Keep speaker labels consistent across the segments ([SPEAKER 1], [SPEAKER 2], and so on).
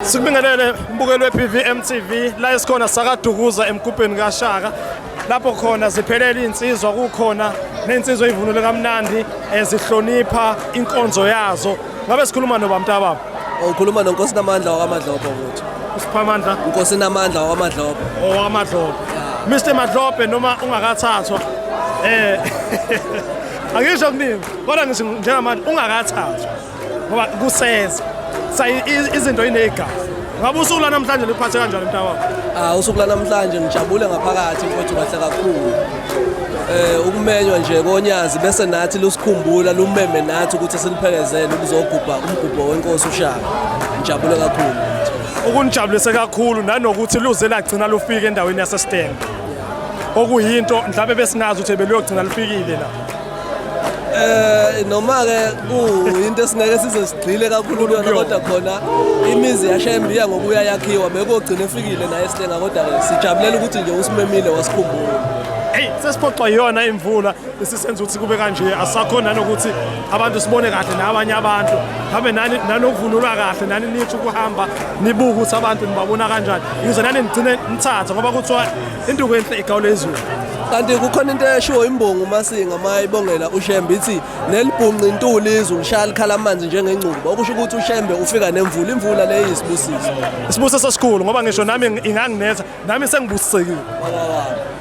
[SPEAKER 1] Sikubingelele mbukeli we-BVM TV la esikhona sakadukuza emgubheni kaShaka lapho khona ziphelele insizwa kukhona nensizwa ivunule kamnandi ezihlonipha eh, inkonzo yazo ngabe sikhuluma noba mntababa ukhuluma nonkosi
[SPEAKER 2] namandla wakamadlobho ukuthi usiphamandla
[SPEAKER 1] inkosi namandla
[SPEAKER 2] wakamadlobho owamadlobho
[SPEAKER 1] Mr Madlobhe noma ungakathathwa eh angisho kuningi kodwa ngisho njengamanje ungakathathwa ngoba kuseza sa izinto inegazi ngabe usuku lanamhlanje liphathe kanjani mntakwakho ah usuku lanamhlanje
[SPEAKER 2] ngijabule ngaphakathi mfowethu kahle kakhulu eh ukumenywa nje konyazi bese nathi lusikhumbula lumeme nathi ukuthi siliphelezele ukuzogubha umgubho wenkosi ushaka ngijabule kakhulu ukunijabulise
[SPEAKER 1] kakhulu nanokuthi luze lagcina lufike endaweni yaseSteng okuyinto mhlawumbe besingazi ukuthi beluyogcina lufikile la Eh
[SPEAKER 2] noma ke kuyinto esingeke size sigxile kakhulu kuyona kodwa khona imizi yashembiya ngokuya yakhiwa bekogcina efikile naye sihlenga kodwa ke sijabulela ukuthi nje usimemile wasikhumbula hey sesiphoxwa
[SPEAKER 1] yiyona imvula esisenza ukuthi kube kanje asakhona nokuthi abantu sibone kahle nabanye abantu mhlawumbe nani nanokuvunulwa kahle nani nithi ukuhamba nibuke ukuthi abantu nibabona kanjani yize nani nigcine nithatha ngoba kuthiwa Induku enhle igawule izulu. Kanti kukhona
[SPEAKER 2] into eshiwo imbongo uMasinga uma ibongela uShembe ithi nelibhunqa intuli izulu lishaya likhala amanzi njengengcuba okusho ukuthi uShembe ufika nemvula imvula le iyisibusiso. Isibusiso esikhulu
[SPEAKER 1] ngoba ngisho nami inganginetha nami sengibusisekile.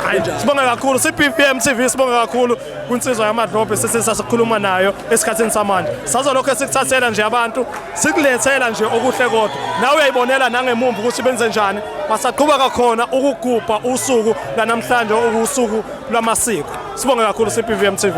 [SPEAKER 1] Hayi sibonga kakhulu CPPM TV sibonga kakhulu kwinsizwa yamadlobhe sesisakhuluma nayo esikhathini samanje sazolokhu esikuthathela nje abantu sikulethela nje okuhle kodwa nawe uyayibonela nangemumva ukuthi benze njani basaqhuba kakhona ukugubha usuku lanamhlanje okuwusuku lwamasiko sibonge kakhulu CPVM TV